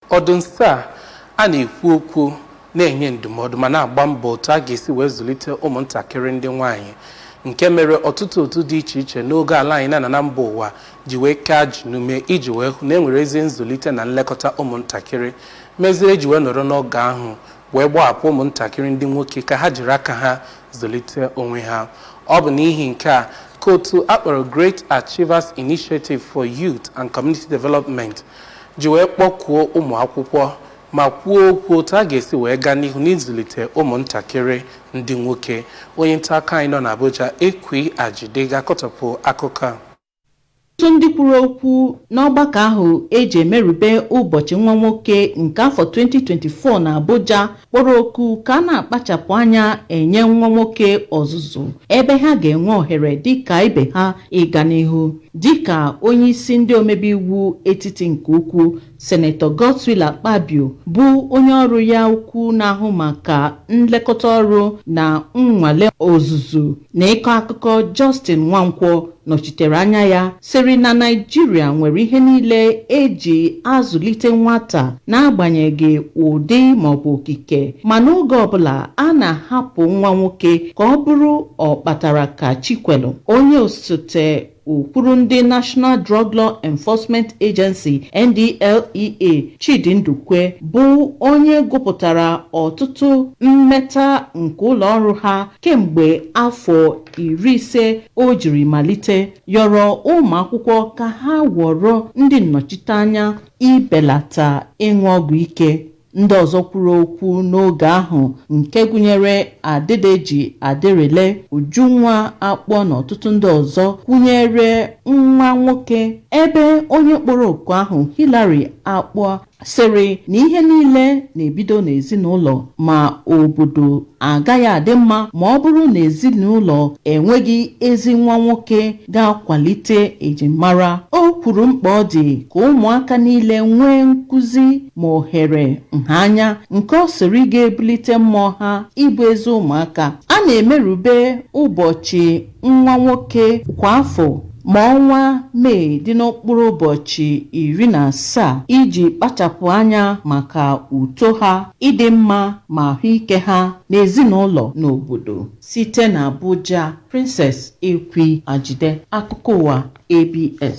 Ọ dị nso a a na-ekwu okwu na-enye ndụmọdụ ma na-agba mbọ otu a ga-esi wee zụlite ụmụntakịrị ndị nwaanyị nke mere ọtụtụ otu dị iche iche n'ogo ala anyị na na mba ụwa ji wee kee ajị n'ume iji wee hụ na e nwere ezi nzụlite na nlekọta ụmụntakịrị meziri eji wee nọrọ n'oge ahụ wee gbahapụ ụmụntakịrị ndị nwoke ka ha jiri aka ha zụlite onwe ha ọ bụ n'ihi nke a ka otu akpọrọ Great Achievers Initiative for Youth and Community Development ji wee kpọkuo ụmụ akwụkwọ ma kwuo okwu otu a ga-esi wee gaa n'ihu n'ịzụlite ụmụntakịrị ndị nwoke. Onye nta akụkọ anyị nọ n'Abuja, Ekwi Ajide, ga-akọtọpụ akụkọ a. Ọtụtụ ndị kwuru okwu n'ọgbakọ ahụ e ji emerube ụbọchị nwa nwoke nke afọ 2024 n'Abuja kpọrọ oku ka a na-akpachapụ anya enye nwa nwoke ọzụzụ ebe ha ga-enwe ohere dịka ibe ha ịga n'ihu dịka onye isi ndị omebe iwu etiti nke ukwu senetọ Godswill Akpabio bụ onye ọrụ ya ukwu na-ahụ maka nlekọta ọrụ na nnwale ọzụzụ na ịkọ akụkọ Justin Nwankwo nọchitere anya ya sịrị na Naịjirịa nwere ihe niile eji azụlite nwata n'agbanyeghị ụdị maọbụ okike ma n'oge ọbụla a na-ahapụ nwa nwoke ka ọ bụrụ ọkpatara ka chi kwelu onye osote okwuru ndị National Drug Law Enforcement Agency NDLEA Chidi Ndukwe bụ onye gụpụtara ọtụtụ mmeta nke ụlọ ọrụ ha kemgbe afọ iri ise o jiri malite yọrọ ụmụ akwụkwọ ka ha ghọrọ ndị nnọchiteanya ibelata ịṅụ ọgwụ ike ndị ọzọ kwuru okwu n'oge ahụ nke gụnyere Adedeji Aderele Ujunwa Akpua na ọtụtụ ndị ọzọ kwụnyere nwa nwoke ebe onye kpọrọ oku ahụ Hillary Akpua sịrị na ihe niile na-ebido n'ezinụlọ ma obodo agaghị adị mma ma ọ bụrụ na ezinụlọ enweghị ezi nwa nwoke ga-akwalite ejimara o kwuru mkpa ọ dị ka ụmụaka niile nwee nkụzi ma ohere nha anya nke ọ sịrị ga-ebulite mmụọ ha ịbụ ezi ụmụaka a na-emerube ụbọchị nwa nwoke kwa afọ ma ọnwa Mee dị na mkpụrụ ụbọchị iri na asaa iji kpachapụ anya maka uto ha, ịdị mma ma ahụike ha n'ezinụlọ na obodo. Site na Abuja, Princess Ekwi Ajide, akụkọ ụwa ABS.